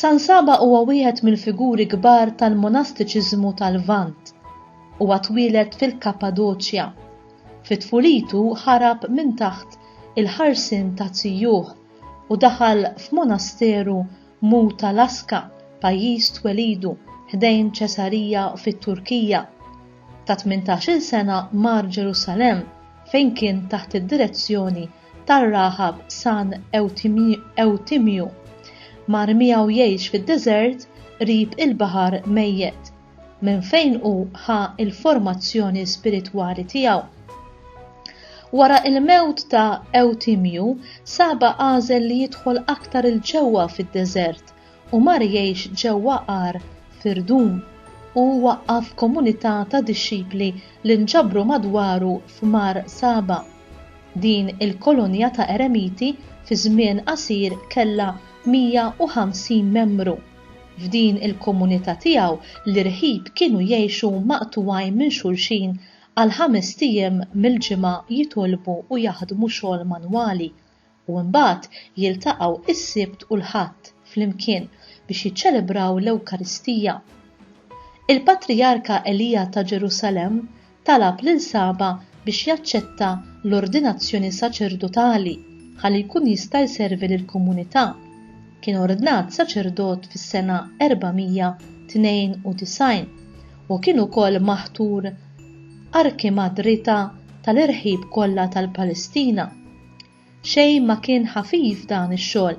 San Saba huwa wieħed mill-figuri kbar tal-monastiċiżmu tal-Lvant. Huwa twieled fil-Kappadoċja. Fi tfulitu ħarab minn taħt il-ħarsien ta' zijuh u daħal f'monasteru Muta Laska, pajjiż twelidu, ħdejn Ċesarija fit-Turkija. Ta' tmintax-il sena mar Ġerusalemm fejn kien taħt id-direzzjoni tar-raħab San Ewtimju, mar miegħu jgħix fid-deżert qrib il-Baħar Mejjet, minn fejn hu ħa l-formazzjoni spiritwali tiegħu. Wara l-mewt ta' Ewtimju, Saba għażel li jidħol aktar 'il ġewwa fid-deżert u mar jgħix ġewwa għar f'irdum u waqqaf komunità ta' dixxipli li nġabru madwaru f'Mar Saba. Din il-kolonja ta' eremiti fi żmien qasir kellha 150 membru. F'din il-komunità tiegħu l-irħib kienu jgħixu maqtugħin minn xulxin għal ħamest ijiem mill-ġimgħa jitolbu u jaħdmu xogħol manwali u mbagħad jiltaqgħu s-Sibt u l-Ħadd flimkien biex jiċċelebraw l-Ewkaristija. Il-Patrijarka Elija ta' Ġerusalemm talab lil Saba biex jaċċetta l-ordinazzjoni saċerdotali ħalli jkun jista' jservi lill-komunità. Kien ordnat saċerdot fis-sena 492 u kien ukoll maħtur Arkimadrita tal-irħib kollha tal-Palestina. Xejn ma kien ħafif dan ix-xogħol,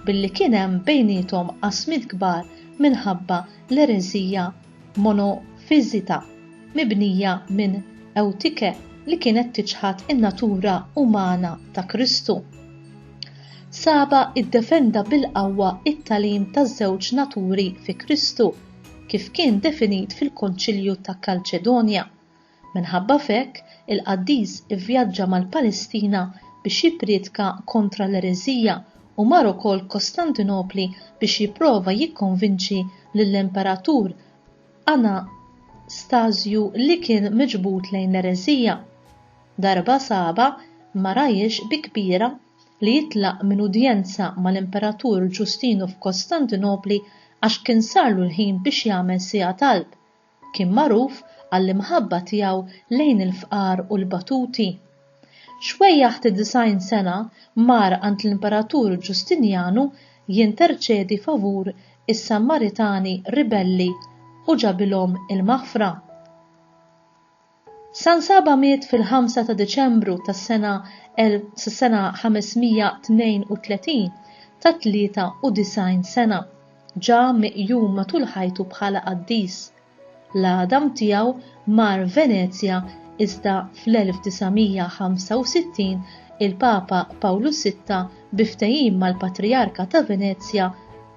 billi kien hemm bejniethom qasmiet kbar minħabba l-ereżija monofiżita mibnija minn Eutike li kienet tiċħad in-natura umana ta' Kristu. Saba iddefenda bil-qawwa t-tagħlim taż-żewġ naturi fi Kristu, kif kien definit fil-Konċilju ta' Kalċedonja, Minħabba f'hekk, il-qaddis ivvjaġġa mal-Palestina biex jippriedka kontra l-ereżija u mar ukoll Kostantinopli biex jipprova jikkonvinċi lill-Imperatur Anastasju li kien miġbud lejn l-ereżija. Darba sabha ma rahiex bi kbira li jitlaq minn udjenza mal-Imperatur Ġustinu f'Kostantinopli għax kien sarlu l-ħin biex jagħmel siegħa talb. Kien magħruf għall-imħabba tiegħu lejn il-fqar u l-batuti. Xwejjaħ ta' disgħin sena mar għand l-Imperatur Ġustinjanu jinterċedi favur is-Sammaritani ribelli u ġabilhom il-maħfra. San Saba miet fil-ħamsa ta' Diċembru tas-sena sas-sena 532 ta' 93 sena. Ġa miqjum matul ħajtu bħala qaddis. L-għadam tiegħu mar Venezja iżda fl-1965 il-Papa Pawlu Sitta bi ftehim mal-Patrijarka ta' Venezja,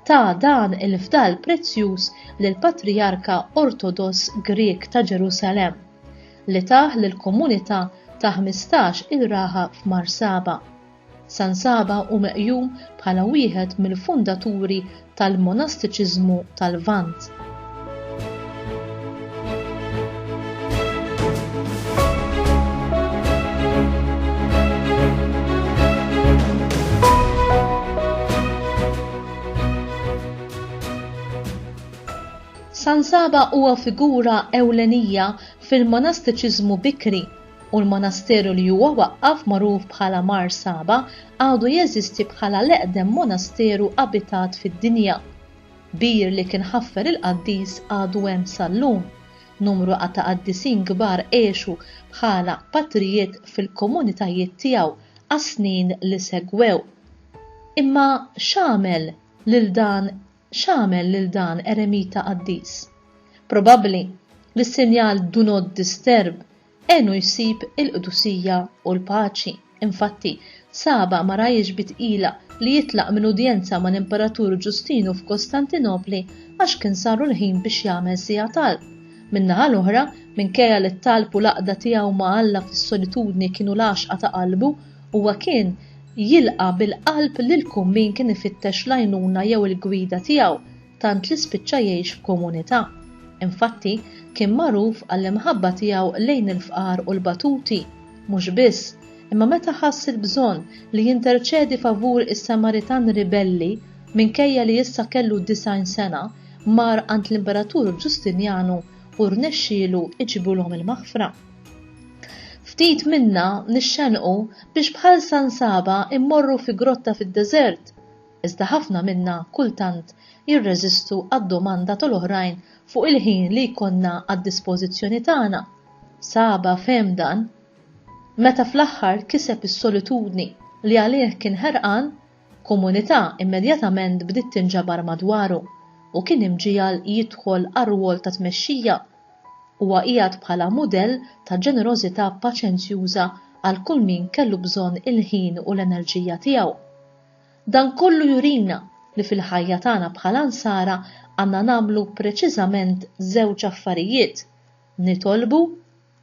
ta dan il-fdal prezzjuż lill-Patrijarka Ortodoss Grieg ta' Ġerusalemm, li tah lill-komunità ta' ħmistax il-raħa f'Mar Saba. San Saba hu meqjum bħala wieħed mill-fundaturi tal-monastiċiżmu tal-Lvant. San Saba huwa figura ewlenija fil-monastiċiżmu bikri u l-monasteru li huwa waqqaf magħruf bħala Mar Saba għadu jeżisti bħala l-eqdem monasteru abitat fid-dinja. Bir li kien ħaffer il-qaddis għadu hemm sal-lum. Numru a ta' qaddisin kbar għexu bħala patrijiet fil-komunitajiet tiegħu għas-snin li segwew. Imma x'għamel lil dan x'għamel lil dan eremita qaddis? Probabbli li s-sinjal Do Not Disturb Għenu jsib il-qdusija u l-paċi. Infatti, Saba ma rajiex bi tqila li jitlaq minn udjenza mal-Imperatur Ġustinu f'Kostantinopli għax kien saru l-ħin biex jagħmel siegħa talb. Min-naħa l-oħra, minkejja li t-talb u l-għaqda tiegħu ma' Alla fis-solitudni kienu l-għaxqa ta' qalbu, huwa kien jilqa' bil-qalb lil kull min kien ifittex l-għajnuna jew il-gwida tiegħu, tant li spiċċa jgħix f'komunità. Infatti, kien magħruf għall-imħabba tiegħu lejn il-fqar u l-batuti. Mhux biss, imma meta ħass il-bżonn li jinterċedi favur is-Samaritan ribelli, minkejja li issa kellu disgħin sena, mar għand l-Imperatur Ġustinjanu u rnexxielu jġibulhom il-maħfra. Ftit minna nixxenqu biex bħal San Saba mmorru fi grotta fid-deżert iżda ħafna minna kultant jirreżistu għad-domanda tal-oħrajn fuq il-ħin li jkollna għad-dispożizzjoni tagħna. Saba fehem dan meta fl-aħħar kiseb is-solitudni li għalih kien ħerqan, komunità immedjatament bdiet tinġabar madwaru u kien imġiegħel jidħol għar-rwol ta' tmexxija. Huwa qiegħed bħala mudell ta' ġenerożità paċenzjuża għal kull min kellu bżonn il-ħin u l-enerġija tiegħu. Dan kollu jurina li fil-ħajja tagħna bħala Nsara għandna nagħmlu preċiżament żewġ affarijiet, nitolbu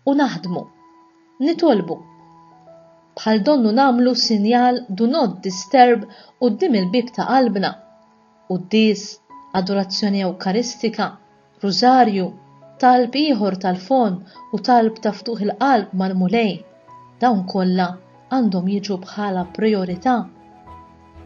u naħdmu. Nitolbu. Bħal donnu nagħmlu sinjal 'Do not disturb' quddiem il-bieb ta' qalbna. quddies, adorazzjoni ewkaristika, rużarju, talb ieħor tal-fomm u talb ta' ftuħ il-qalb mal-Mulej, dawn kollha għandhom jiġu bħala prijorità.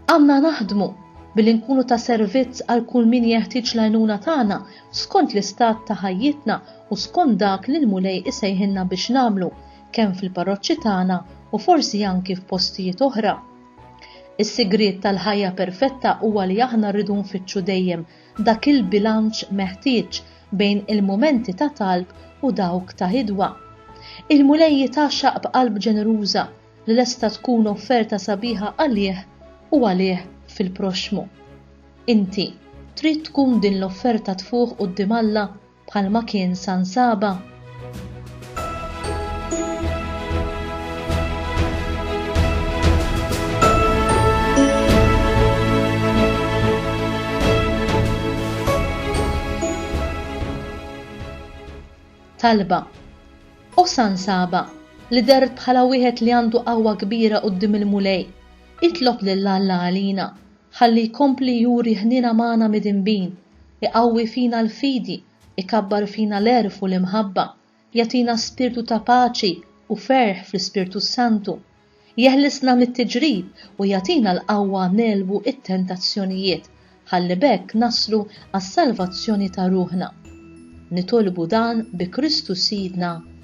Għandna naħdmu billi nkunu ta' servizz għal kull min jeħtieġ l-għajnuna tagħna skont l-istat ta' ħajjitna u skont dak li l-Mulej isejħilna biex nagħmlu kemm fil-parroċċi tagħna u forsi anki f'postijiet oħra. Is-sigriet tal-ħajja perfetta huwa li aħna rridu nfittxu dejjem dak il-bilanċ meħtieġ bejn il-mumenti ta' talb u dawk ta' hidwa. Il-Mulej jitgħaxxaq b'qalb ġeneruża li lesta tkun offerta sabiħa għalih u għalih fil-proxxmu. Inti trid tkun din l-offerta tfuħ quddiem Alla bħalma kien San Saba? talba. U San Saba, li dert bħala wieħed li għandu qawwa kbira qudiem il-Mulej, itlob lil Alla għalina, ħalli jkompli juri ħnina magħna midinbin Iqawwi fina l-fidi, ikabbar fina l-għerf u l-imħabba, jagħtina spirtu ta' paċi u ferħ fl-Ispirtu s-Santu, jeħlisna mit-tiġrib u jagħtina l-qawwa negħlbu t-tentazzjonijiet ħalli b'hekk naslu għas-salvazzjoni ta' ruħna. Nitolbu dan bi Kristu Sidna.